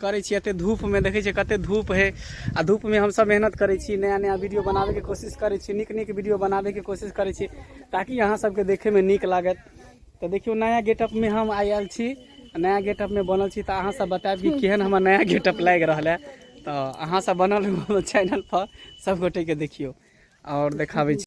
करै छी एते धूप में देखै छियै कते धूप है आ धूप में हम सब मेहनत करै छी नया नया वीडियो बनाबे के कोशिश करै छी नीक नीक वीडियो बनाबे के कोशिश करै छी ताकि अहाँ सबके देखे में नीक लागत तऽ देखियौ नया गेटअप में हम आइ आयल छी आ नया गेटअप में बनल छी तऽ अहाँ सब बतायब कि केहन हमर नया गेटअप लागि रहल है तऽ अहाँ सब बनल रहू चैनल पर सब गोटे के देखियौ और देखाबै छी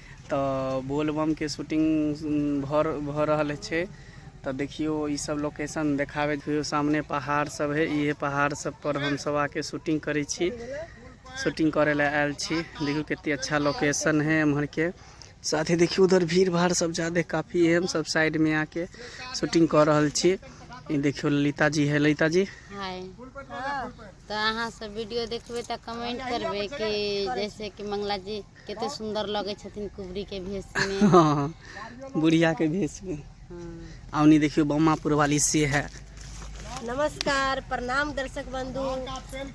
तऽ बोलबमके शूटिंग भऽ भऽ रहल छै तऽ देखियौ ई सब लोकेशन देखाबे देखियौ सामने पहाड़ सब है इहे पहाड़ सब पर हम सब आके शूटिंग करै छी शूटिंग करै लए आयल छी देखियौ कते अच्छा लोकेशन है एम्हर के साथे देखियौ उधर भीड़ भाड़ सब जादे काफी है हम सब साइड में आके शूटिंग कऽ रहल छी ई देखियौ ललिता जी है ललिता जी हाय तऽ अहाँ सब वीडियो देखबै तऽ कमेंट करबै कि जैसे कि मंगला जी कते सुन्दर लगै छथिन कुबरी के भेष में हाँ, बुढ़िया के भेष में हाँ। आवनी देखियो बम्मापुर वाली से है नमस्कार प्रणाम दर्शक बंधु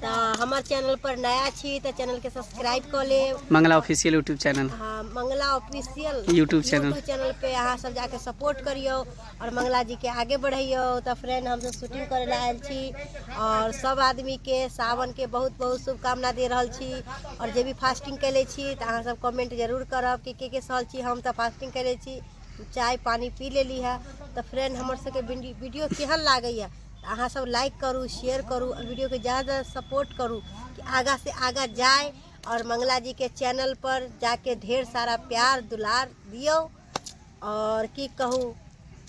तो हमार चैनल पर नया छी तो चैनल के सब्सक्राइब कर ले मंगला ऑफिशियल यूट्यूब चैनल हाँ Mangla official YouTube channel channel पे अहाँ सब जाके सपोर्ट करियो आओर मंगला जीके आगे बढ़ैयौ तऽ फ्रेंड हमसब शूटिंग करै लए आयल छी आओर सब आदमीके सावनके बहुत बहुत शुभकामना दे रहल छी आओर जे भी फास्टिंग केले छी तऽ अहाँ सब कमेंट जरूर करब कि के के सहल छी हम तऽ फास्टिंग केले छी चाय पानी पी लेली है तऽ फ्रेंड हमर सबके वीडियो- वीडियो केहन लागैया तऽ अहाँ सब लाइक करू शेयर करू आओर वीडियोके ज्यादा सपोर्ट करू कि आगा से आगा जाए और मंगला जी के चैनल पर जाके ढेर सारा प्यार दुलार दियो आओर की कहू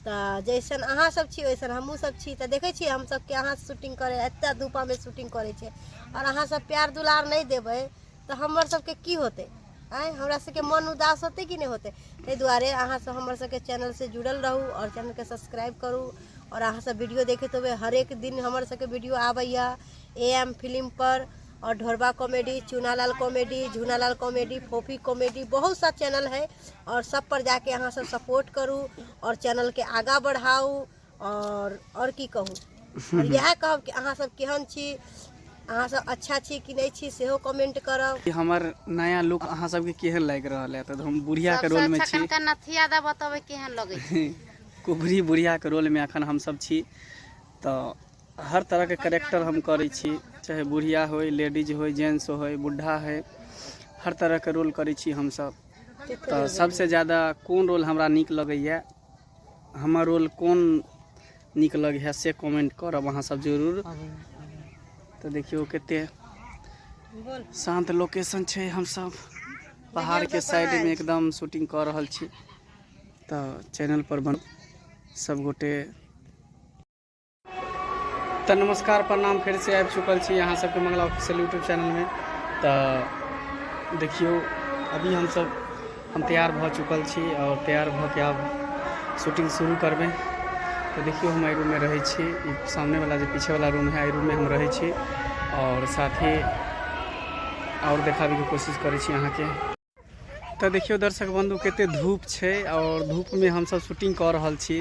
तऽ जैसन अहाँ सब छी वैसन हमहुँ सब छी तऽ देखै छियै हम सबके अहाँ शूटिंग करै एते धूपा मे शूटिंग करै छै आओर अहाँ सब प्यार दुलार नहि देबै तऽ हमर सबके की होतै आँय हमरा सबके मन उदास होतै कि नहि होतै ताहि दुआरे अहाँ सब हमर सबके चैनल से जुड़ल रहू आओर चैनल के सब्सक्राइब करू आओर अहाँ सब वीडियो देखैत होबै हरेक दिन हमर सबके वीडियो आबैया ए एम फिल्म पर और ढोरबा comedy Chunalal comedy Jhunalal comedy Phophi comedy बहुत सा चैनल है आओर सभपर जा कऽ अहाँसभ सपोर्ट करू आओर चैनलकेँ आगाँ बढ़ाउ आओर आओर की कहू आओर इएह कहब कि अहाँसभ केहन छी अहाँसभ अच्छा छी कि नहि छी सेहो कमेंट करब कि हमर नया लुक अहाँ सबके केहन लागि रहल है तऽ हम बुढ़िया के रोल में छी कनका नथिया दा बतबै केहन लगै छै कुबरी बुढ़िया के रोल में अखन हम सब छी तऽ हर तरह के करेक्टर हम करै छी चाहे बुढ़िया होय लेडीज होय जेंट्स होय बुढ़ा होय हर तरह के रोल करै छी हम सब तऽ सबसे ज्यादा कोन रोल हमरा नीक लगैए हमर रोल कोन नीक लगैए से कमेंट करब अहाँ सब जरूर तऽ देखियौ कते शान्त लोकेशन छै हमसब पहाड़के साइडमे एकदम शूटिंग कऽ रहल छी तऽ चैनल पर बन सब गोटे तऽ नमस्कार प्रणाम फेर से आबि चुकल छी अहाँ सबके मंगला ऑफिशियल यूट्यूब चैनल में तऽ देखियौ अभी हम सब हम तैयार भऽ चुकल छी आओर तैयार भऽ के आब शूटिंग शुरू करबै तऽ देखियौ हम एहि रूम में रहै छी ई सामने वाला जे पीछे वाला रूम है एहि रूम में हम रहै छी आओर साथ ही आओर देखाबैके कोशिश करै छी अहाँके तऽ देखियौ दर्शक बंधु कते धूप छै और धूप में हम सब शूटिंग कर रहल छी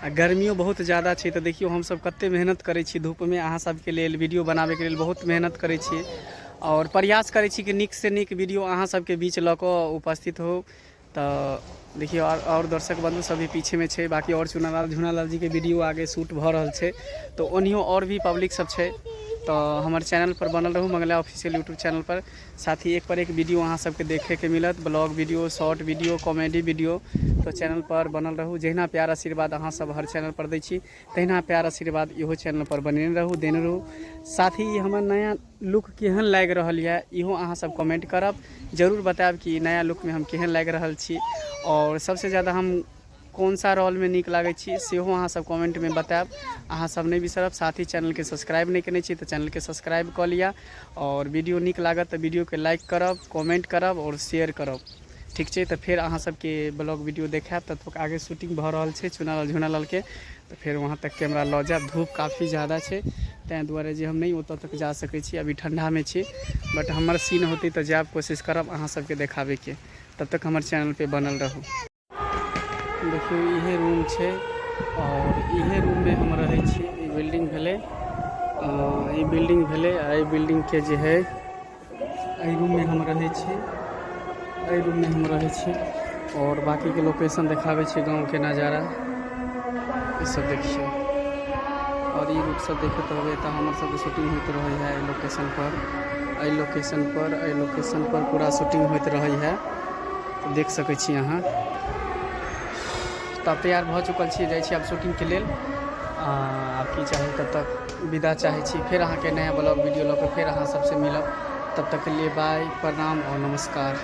आ गर्मियो बहुत ज़्यादा छै तऽ देखियौ हम सब कते मेहनत करै छी धूप में अहाँ सब के लेल वीडियो बनाबे के लेल बहुत मेहनत करै छी और प्रयास करै छी कि नीक से नीक वीडियो अहाँ सब के बीच लऽ कऽ उपस्थित हो तऽ देखियौ और और दर्शक बंधु सब भी पीछे में छै बाकी और चुनालाल झुनालाल जी के वीडियो आगे शूट भऽ रहल छै तऽ ओनियो और भी पब्लिक सब छै तऽ हमर चैनल पर बनल रहू मंगला ऑफिशियल यूट्यूब चैनल पर साथ ही एक पर एक वीडियो अहाँ सबके देखे के मिलत blog video short video comedy video तो चैनल पर बनल रहू जहिना प्यार आशीर्वाद अहाँ सब हर चैनल पर दै छी तहिना प्यार आशीर्वाद इहो चैनल पर बने रहू देने रहू साथ ही ई हमर नया लुक केहन लागि रहल यऽ इहो अहाँ सब कमेंट करब जरूर बतायब कि ई नया लुक में हम केहन लागि रहल छी और सबसे ज्यादा हम कोन सा रोलमे नीक लागै छी सेहो अहाँ सब कमेन्टमे बतायब अहाँ सब नहि बिसरब साथ ही चैनलके सब्सक्राइब नहि केने छी तऽ चैनलके सब्सक्राइब कऽ लिअ आओर वीडियो नीक लागत तऽ वीडियोके लाइक करब कमेन्ट करब आओर शेयर करब ठीक छै तऽ फेर अहाँ सबके ब्लॉग वीडियो देखायब तब तक आगे शूटिंग भऽ रहल छै चुनालाल झुनालालके तऽ फेर वहाँ तक कैमरा लऽ जायब धूप काफी जादा छै ताहि दुआरे जे हम नहि ओतऽ तक जा सकै छी अभी ठण्डामे छी बट हमर सीन होतै तऽ जायब कोशिश करब अहाँ सबके देखाबैके तब तक हमर चैनलपर बनल रहू देखियौ इहे रूम छै आओर इहे रूममे हम रहै छी ई बिल्डिंग भेलै ई बिल्डिंग भेलै आ एहि बिल्डिंगके जे हइ एहि रूममे हम रहै छी एहि रूममे हम रहै छी आओर बाकीके लोकेशन देखाबै छी गाँवके नजारा ईसभ देखियौ आओर ई रूपसभ देखैत रहबै तऽ हमरसभके शूटिंग होइत रहै हइ एहि लोकेशनपर एहि लोकेशनपर एहि लोकेशनपर पूरा शूटिंग होइत रहै हइ तऽ देख सकै छी अहाँ तऽ तैयार भऽ चुकल छी जाइ छी आब शूटिंगके लेल आब की चाही तब तक विदा चाहै छी फेर अहाँके नया ब्लॉग वीडियो लऽ कऽ फेर अहाँ सबसँ मिलब तब तकके लिए बाय प्रणाम आओर नमस्कार